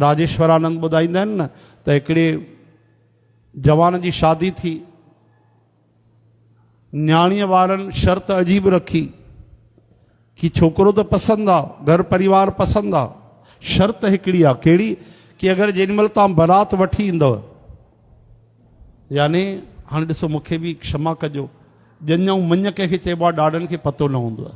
راجيشورانند ٻڌائيندا آهن نه ته هڪڙي جوان جي شادي ٿي نياڻيء وارن شرط عجيب رکي ڪي ڇوڪرو ته پسند آ گهر پريوار پسند آ شرط هڪڙي آ ڪهڙي ڪي اگر جن مل تان برات وٺي ايندو يعني هاڻي ڏسو مونکي به کشما ڪجو ڄڃ ۽ مڃ ڪنهن کي چئبو آ ڏاڏن کي پتو نه هوندو آ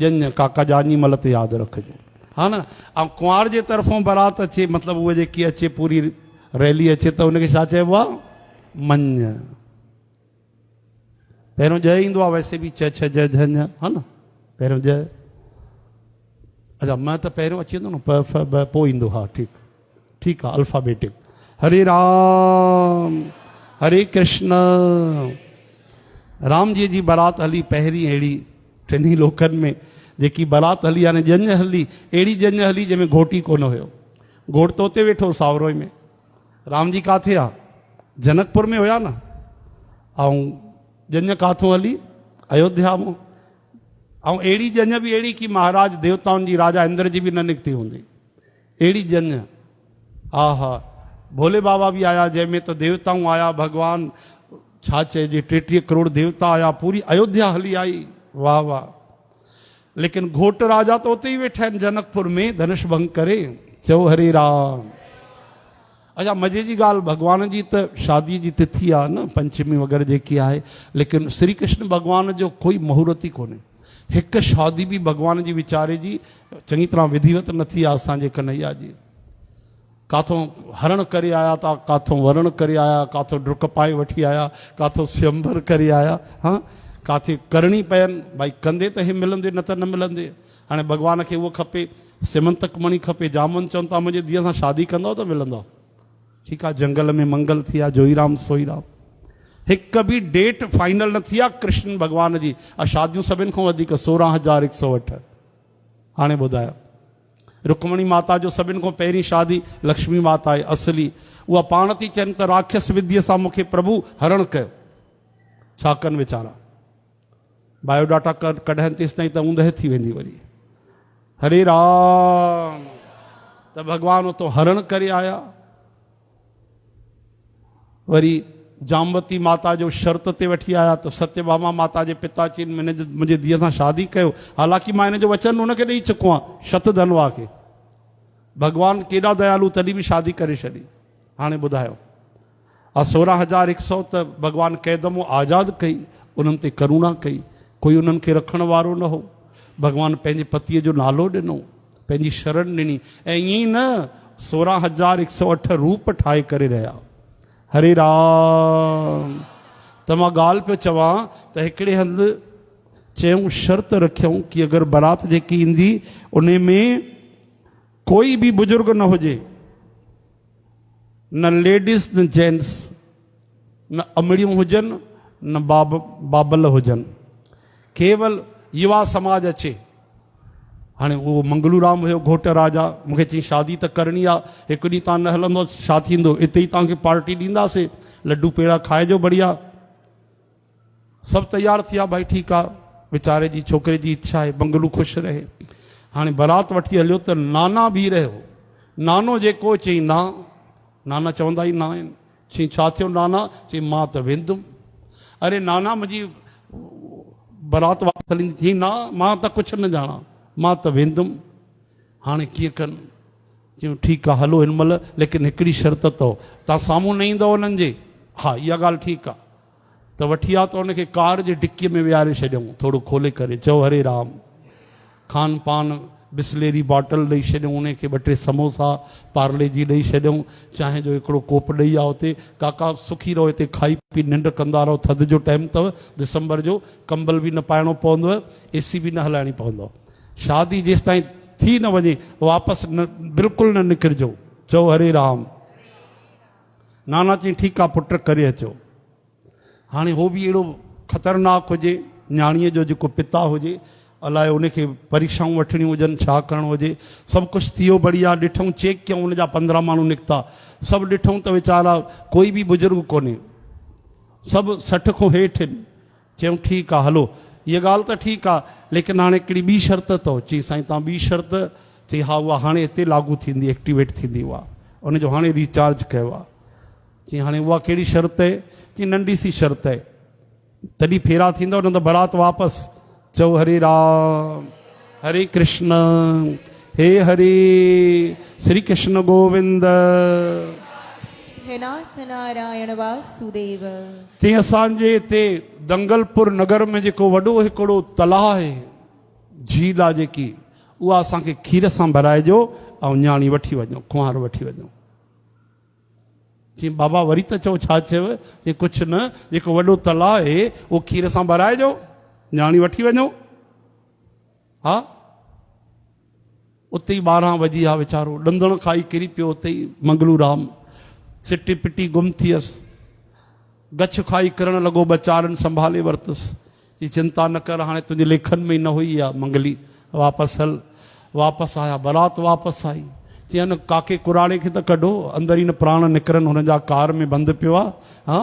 ڄڃ، ڪاڪا ڄاڃي مل تي ياد رکجو ها نه ۽ ڪنوار جي طرفون برات اچي مطلب هوء جيڪي اچي پوري ريلي اچي ته ان کي ڇا چئبو آ مڃ پهريون ڄ ايندو آ ويسي به چھ چھ جھ جھ ها نه پهريون ڄ اچا م ته پهريون اچي ويندو نه پ ف ب پوء ايندو ها ٺيڪ ٺيڪ آ الفابيٽڪ هري رام هري ڪرشن رام جي جي برات هلي پهرين اهڙي ٽنهي لوڪن ۾ جيڪي برات هلي يعني ڄڃ هلي اهڙي ڄڃ هلي جنهن ۾ گهوٽي ڪون هيو گهوٽ تو تي ويٺو ساورو ۾ رام جي ڪاٿي آ جنڪپور ۾ هيا نه ائون ڄڃ ڪاٿو هلي ايوڌيا مون ائون اهڙي ڄڃ به اهڙي ڪي مهاراج ديوتائن جي راجا اندر جي به نه نڪتي هوندي اهڙي ڄڃ آ ها. ڀولي بابا به آيا جنهن ۾ ته ديوتائون آيا ڀڳوان ڇا چئجي ٽيٽيهه ڪروڙ ديوتا آيا پوري ايوڌيا هلي آئي واهه واهه ليڪن گهوٽ راجا ته اتي ئي ويٺا آهن جنڪ پور ۾ ڌنش ڀنگ ڪري چئو هري رام. اچا مزي جي ڳالهه ڀڳوان جي ته شادي جي تٿي آ نه پنچمي وغيره جيڪي آهي ليڪن سري ڪرشن ڀڳوان جو ڪوئي مهورت ئي ڪونهي هڪ شادي به ڀڳوان جي ويچاري جي چڱي طرح وڌيوت نه ٿي آ اسان جي ڪنهيا جي ڪاٿون هرڻ ڪري آيا تا ڪاٿون ورڻ ڪري آيا ڪاٿو ڊرڪ پائي وٺي آيا ڪاٿو سيمبر ڪري آيا ها ڪاٿي ڪرڻي پين ڀائي ڪندي ته هي ملندي نه ته نه ملندي هاڻي ڀڳوان کي اهو کپي، سيمنتڪ مڻي کپي، جامن چون ته منهنجي ڌيء سان شادي ڪندؤ ته ملندؤ. ٺيڪ آ جنگل ۾ منگل ٿي آ جوئي رام سوئي رام. هڪ به ڊيٽ فائنل نه ٿي آ ڪرشن ڀڳوان جي آ شاديون سڀن کان وڌيڪ سورهن هزار هڪ سؤ اٺ. هاڻي ٻڌايو رڪمڻي ماتا جو سڀن کان پهرين شادي لڪشمي ماتا آهي اصلي اها پاڻ ٿي چين ته راکس وديء سان مونکي پرڀو هرڻ ڪيو ڇا ڪن ويچارا. بايو ڊاٽا ڪارڊ ڪڍائين تيستائين ته اوندهه ٿي ويندي وري هري رام ته ڀڳوان اتو هرڻ ڪري آيا وري جاموتي ماتا جو شرط تي وٺي آيا ته ستي باما ماتا جي پتا چين منهنجي ڌيء سان شادي ڪيو حالانڪه مان هن جو وچن ان کي ڏيئي چڪو آهيان شت ڌنوا کي ڀڳوان ڪيڏا ديالو تڏهن به شادي ڪري ڇڏي هاڻي ٻڌايو آء سورهن هزار هڪ سئو ته ڀڳوان قيد مون آزاد ڪئي، انهن تي ڪرونا ڪئي، ڪوئي انهن کي رکڻ وارو نه هو، ڀڳوان پنهنجي پتيء جو نالو ڏنو، پنهنجي شرڻ ڏني ۽ ائين ئي نه سورهن هزار هڪ سئو اٺ روپ ٺاهي ڪري رهيا. هري رام! ته مان ڳالهه پيو چوان ته هڪڙي هنڌ چيئون شرط رکيئون ڪي اگر برات جيڪي ايندي انهي ۾ ڪوئي به بزرگ نه هجي، نه ليڊيز نه جينٽس، نه امڙيون هجن نه بابل هجن، ڪيول يوا سماج اچي. هاڻي اهو منگلو رام هيو گهوٽ راجا، مون کي چيائين شادي ته ڪرڻي آ، هڪ ڏينهن تان نه هلندو ڇا ٿيندو، اتي ئي توهان کي پارٽي ڏينداسين، لڊو پيڙا کائجو بڙيا. سڀ تيار ٿيا ڀائي ٺيڪ آ ويچاري جي ڇوڪري جي اڇا آهي بنگلو خوش رهي هاڻي برات وٺي هليو ته نانا بيهي رهيو نانو جيڪو چئي نا نانا چوندا ئي نا آهن چئي ڇا ٿيو نانا چئي مان ته ويندم اري نانا منهنجي برات واپس هلندي چئي نا مان ته ڪڇ نه ڄاڻا مان ته ويندم هاڻي ڪيئن ڪن چيون ٺيڪ آ هلو هن مهل ليڪن هڪڙي شرط اٿو تان سامهون نه ايندو انهن جي ها اها ڳالهه ٺيڪ آ ته وٺي آ ته ان کي ڪار جي ڊڪيء ۾ ويهاري ڇڏيائون. ٿورو کولي ڪري چئو هري رام. کان پان بسليري باٽل ڏئي ڇڏيائون. انهي کي ٻه ٽي سموسا، پارلي جي ڏئي ڇڏيائون. چانهه جو هڪڙو ڪوپ ڏئي آ اتي. ڪاڪا سکي رهو هتي کائي پي ننڊ ڪندا رهو. ٿڌ جو ٽائيم اٿو. دسمبر جو. ڪمبل به نه پائڻو پوندو. اي سي به نه هلائڻي پوندو. شادي جيستائين ٿي نه وڃي واپس نه بلڪل نه نڪرجو. چئو هري رام. نانا چيائين ٺيڪ آ پٽ ڪري اچو. هاڻي هو به اهڙو خطرناڪ هجي نياڻيء جو جيڪو پتا هجي الاء ان کي پريڪشائون وٺڻيون هجن ڇا ڪرڻو هجي سڀ ڪجهه ٿيو بڙيا ڏٺئون چيڪ ڪيئون ان جا پندرهن ماڻهو نڪتا سڀ ڏٺئون ته ويچارا ڪوئي به بزرگ ڪونهي سڀ سٺ کون هيٺ آهن چيم ٺيڪ آ هلو هيء ڳالهه ته ٺيڪ آ ليڪن هاڻي هڪڙي ٻي شرط اٿئو. چيم سائين توهان ٻي شرط؟ چيم ها اها هاڻي هتي لاڳو ٿيندي ايڪٽيويٽ ٿيندي اها ان جو هاڻي ري چارج ڪيو آ. چيم هاڻي اها ڪهڙي شرط اهي؟ چيم ننڍي سي شرط اهي تڏهن ڦيرا ٿيندؤ نه ته برات واپس چئو هري رام. هري ڪرشن هي هري سري ڪرشن گووند. هي ناٿ نارائڻ واسوديو. تي اسان جي هتي دنگل پور نگر ۾ جيڪو وڏو هڪڙو تلاء آهي جھيل آ جيڪي اها اسان کي کير سان ڀرائجو ۽ نياڻي وٺي وڃو ڪنوار وٺي وڃو. چيم بابا وري ته چئو ڇا چيو؟ چيم ڪڇ نه جيڪو وڏو تلاء آهي اهو کير سان ڀرائجو نياڻي وٺي وڃو. ها اتي ئي ٻارهن وڄي ها ويچارو ڏندڻ کائي ڪري پيو اتي ئي منگلو رام سٽي پٽي گم ٿيس گڇ کائي ڪرڻ لڳو ٻه چار ڏن سنڀالي ورتس چي چنتا نه ڪر هاڻي تنهنجي ليکن ۾ ئي نه هئي اها منگلي واپس هل واپس آيا برات واپس آئي. چيائين ان ڪاڪي ڪراڙي کي ته ڪڍو، اندر ئي نه پراڻ نڪرن، هن جا ڪار ۾ بند پيو آ، ها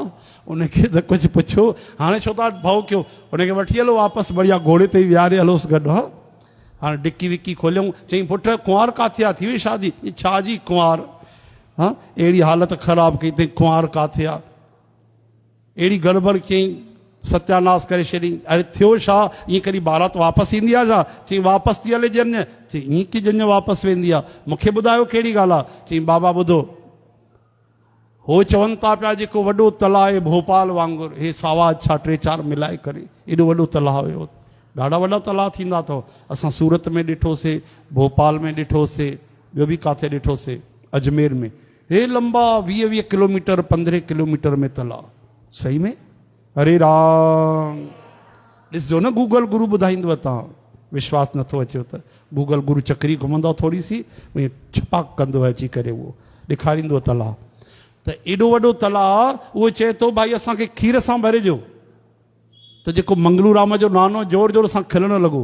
ان کي ته ڪجهه پڇو، هاڻي ڇو ٿا ڀؤ ڪيو، ان کي وٺي هلو واپس بڙيا گهوڙي تي ويهاري هلوس گڏ، ها هاڻي ڊڪي وڪي کوليائون، چيائين پٽ ڪنوار ڪاٿي آ، ٿي وئي شادي، چيائين ڇا جي ڪنوار، ها اهڙي حالت خراب ڪئي تئين ڪنوار ڪاٿي آ. اهڙي گڙٻڙ ڪيئي ستياناس ڪري ڇڏين. اري ٿيو ڇا؟ ائين ڪڏهن بارات واپس ايندي آ ڇا؟ چيائين واپس ٿي هلي ڄڃ. چيائين ائين ڪيئن ڄڃ واپس ويندي آ؟ مون کي ٻڌايو ڪهڙي ڳالهه آ؟ چيائين بابا ٻڌو. هو چون ٿا پيا جيڪو وڏو تلاء آهي ڀوپال وانگر هي ساوا اڇا ٽي چار ملائي ڪري ايڏو وڏو تلاء هيو. ڏاڍا وڏا تلاء ٿيندا اٿئو. اسان سورت ۾ ڏٺو سي، ڀوپال ۾ ڏٺو سي، ٻيو به ڪاٿي ڏٺو سي. اجمير ۾. هي لنبا ويهه ويهه ڪلوميٽر پندرهين ڪلوميٽر ۾ تلا صحيح ۾ هري رام ڏسجو نه گوگل گرو ٻڌائيندو تان وشواس نٿو اچيو ته گوگل گرو چڪري گهمندو ٿوري سي ائين ڇپاڪ ڪندو اچي ڪري اهو ڏيکاريندو تلا ته ايڏو وڏو تلا اهو چئي ٿو ڀائي اسان کي کير سان ڀرجو ته جيڪو منگلورام جو نانو زور زور سان کلڻ لڳو.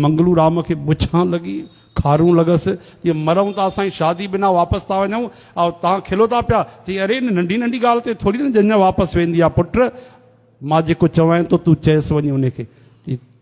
منگلورام کي بڇان لڳي، خارون لڳس، جي مرئون ته اسان جي شادي بنا واپس ٿا وڃون، ۽ توهان کلو ٿا پيا، چيائين، اري ان ننڍي ننڍي ڳالهه تي ٿوري نه جنجهه واپس ويندي آهي پٽ، مان جيڪو چوانء ٿو تون چئس وڃي انهي کي.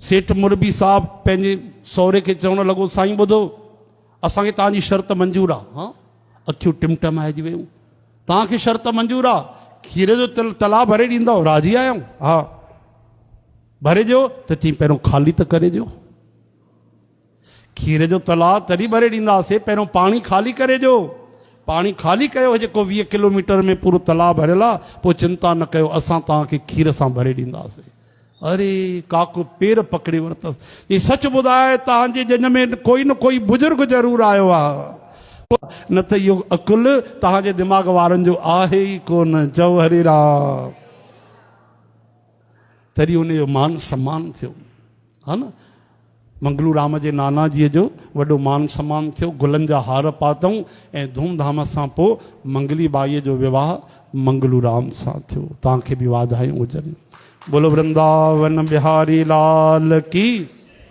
سيٺ مربي صاحب پنهنجي سهري کي چوڻ لڳو، سائين ٻڌو، اسان کي توهان جي شرط منظور آ. ها؟ اکيون ٽمٽمائجي ويون. توهان کي شرط منظور آ؟ کير جو تلاء ڀري ڏيندؤ، راضي آهيو؟ ها. ڀري ڏيو ته چيائين، پهريون خالي ته ڪري ڏيو. کير جو تلاء تڏهن ڀري ڏينداسين پهريون پاڻي خالي ڪري ڏيو. پاڻي خالي ڪيو هي جيڪو ويهه ڪلوميٽر ۾ پورو تلاء ڀريل آ پوء چنتا نه ڪيو اسان توهان کي کير سان ڀري ڏينداسين. اري ڪاڪو پير پڪڙي ورتس چيائين سچ ٻڌاء توهان جي ڄڃ ۾ ڪوئي نه ڪوئي بزرگ ضرور آيو آ نه ته اهو عقل توهان جي دماغ وارن جو آهي ئي ڪونه چئو هري رام. تڏهن ان جو مان سمان ٿيو ها نه منگلو رام جي نانا جي جو وڏو مان سمان ٿيو گلن جا هار پاتئون ۽ ڌوم ڌام سان پوء منگلي ٻائي جو وواهه منگلو رام سان ٿيو توهان کي به واڌايون هجن بولو ورنداون بهاري لال ڪي